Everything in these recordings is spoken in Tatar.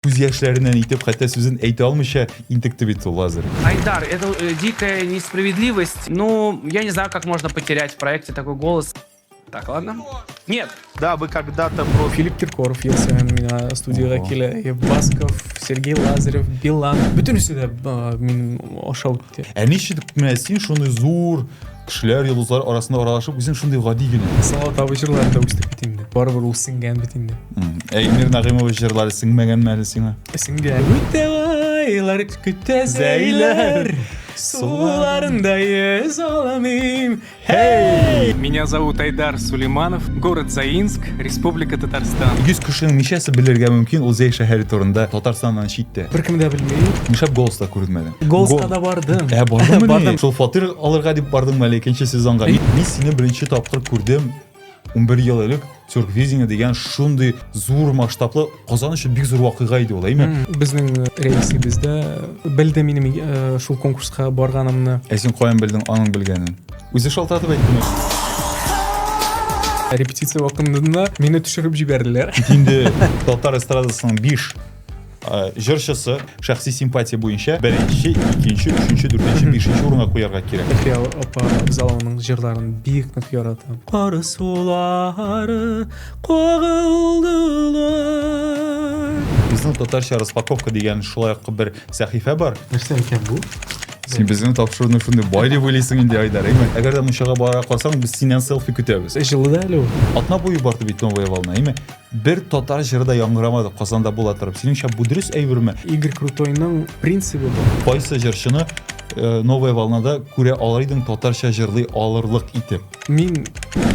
Күз яшьләреннән итеп хәтта сүзен әйтә алмыйча интекте бит ул Лазарь. Айдар, это э, дикая несправедливость. Ну, я не знаю, как можно потерять в проекте такой голос. Так, ладно. Нет. Да, вы когда-то про... Филипп Киркоров есе мина студияга Ого. килә. Э, Басков, Сергей Лазарев, Билан. Бөтенесе дә а, минем аша үтте. Ә ничек менә син шуны зур Кешеләр йолдызлар арасында аралашып, үзем шундый гади генә. Сала табы җырлары да үсте бит инде. Барыбер ул сеңгән бит инде. Әймир Нагыймова җырлары сеңмәгән мәле сиңа? Сеңгән. Үтә айлар көтә зәйләр. Суларында йөз аламыйм. Эй! Меня зовут Айдар Сулейманов, город Заинск, Республика Татарстан. 100 кешенең ничәсе белергә мөмкин ул Зәй шәһәре турында Татарстаннан читтә? Беркем дә белми. Нишләп голоста күренмәде? Голска да бардым. Ә бардымы? Бардым. Шул фатир алырга дип бардыңмы әле икенче сезонга? Мин сине беренче тапкыр күрдем. 11 ел элек Тюрквизиня дигән шундый зур масштаблы Казан өчен бик зур вакыйга иде ул, әйме? Безнең рәисебездә белде минем э, шул конкурска барганымны. Ә син каян белдең аның белгәнен? Үзе шалтыратып әйттеме? репетиция вакытында мине төшереп җибәрделәр. Инде татар эстрадасының биш Э, җырчысы шәхси симпатия буенча беренче икенче өченче дүртенче бишенче урынга куярга кирәк әлфия апа абзалыңның җырларын бик нык яратам кар сулары кагылдылар безнең татарча распаковка дигән шулай ук бер сәхифә бар нәрсә икән бу син безнең тапшыруны шундый бай дип уйлыйсың инде айдар әйме әгәр дә мунчага бара калсаң без синнән селфи көтәбез җылы да әле ул атна буе барды бит новая волна әйме Бер татар җыры да яңгырамады Казанда була торып. Синеңчә бу дөрес әйберме? Игорь Крутойның принцибы бу. Кайсы җырчыны э, Новая волнада күрә алар идең татарча җырлый алырлык итеп? Мин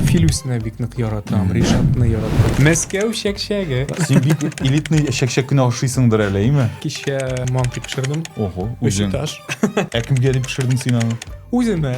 Филүсне бик нык яратам, Ришатны яратам. Мәскәү чәкчәге. Син бик элитный чәкчәк кенә ашыйсыңдыр әле, име? Кичә манты пешердем. Ого, Өч үзең. этаж. Ә кемгә дип пешердең син аны? Үземә.